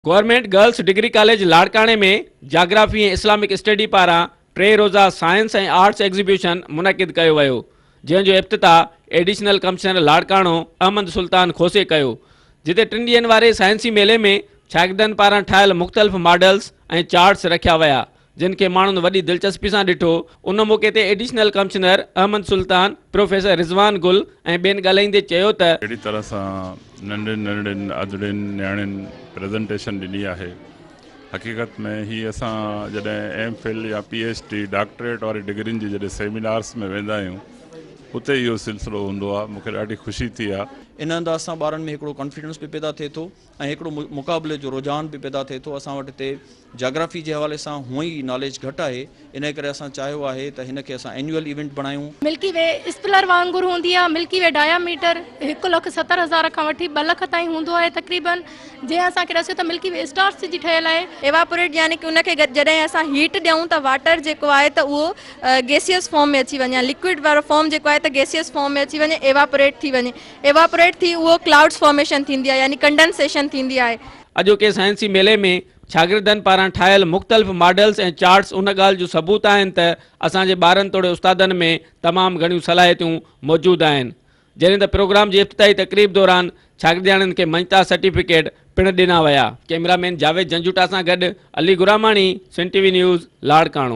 Government girls degree college لاڙڪاڻي ۾ geography ۽ Islamic study پاران ٽي روزه سائنس ۽ آرٽس ايگزيبيشن منعقد ڪيو ويو جنهن جو افتتاح ايڊيشنل ڪمشنر لاڙڪاڻو احمد سلطان کوسي ڪيو جتي ٽن ڏينهن واري سائنسي ميلي ۾ شاگردن پاران ٺاهيل مختلف ماڊلز ۽ چارٽس رکيا ويا جن کي ماڻهن وڏي دلچسپي سان ڏٺو، ان موقعي تي additional commissioner Ahmed Sultan, professor Rizwan Gul ۽ ٻين ڳالهائيندي چيو ته. جهڙي طرح سان ننڍين ننڍين ادڙين نياڻين پريزنٽيشن ڏني آهي حقيقت ۾ هي اسان جڏهن ايم فل يا پي ايڇ ڊي ڊاڪٽريٽ واري ڊگرين جي جڏهن سيمينارس ۾ ويندا آهيون اتي اهو سلسلو هوندو آهي مونکي ڏاڍي خوشي ٿي آهي. ان انداز سان ٻارن ۾ هڪڙو ڪانفيڊنس به پيدا ٿئي ٿو. ۽ هڪڙو مقابلي جو رجحان به پيدا ٿئي ٿو اسان وٽ هتي جاگرافي جي حوالي سان هونء ئي ناليج گهٽ آهي انهي ڪري اسان چاهيو آهي ته هن کي اسان اينيول ايونٽ بڻايون. ملڪي وي اسپلر وانگر هوندي آهي ملڪي وي ڊايا ميٽر هڪ لک ستر هزار کان وٺي ٻه لک تائين هوندو آهي تقريبن جنهن اسان کي ڏسيو ته ملڪي وي اسٽارس جي ٺهيل آهي. ايواپوريٽ يعني ان کي جڏهن اسان هيٽ ڏيون ته واٽر جيڪو آهي ته اهو گيسيئس فارم ۾ اچي وڃي يا لڪوئڊ وارو فارم جيڪو آهي ته گيسيئس فارم ۾ اچي وڃي ايواپوريٽ ٿي وڃي ايواپوريٽ ٿي اهو ڪلائوڊز فارميشن ٿيندي آهي يعني ڪنڊنسيشن ٿيندي آهي. اڄوڪي سائنسي ميلي ۾ شاگردن پاران ٺاهيل مختلف ماڊلز ۽ چارٽس ان ڳالهه جو ثبوت آهن ته اسان جي ٻارن توڙي استادن ۾ تمام گهڻيون صلاحيتون موجود آهن جڏهن ته پروگرام جي افتتاحي تقريب دوران شاگردياڻين کي مڃتا سرٽيفڪيٽ پڻ ڏنا ويا. ڪئميرا مين جاويد جنجوٽا سان گڏ Ali Gharamani, Sindh TV news, Larkana.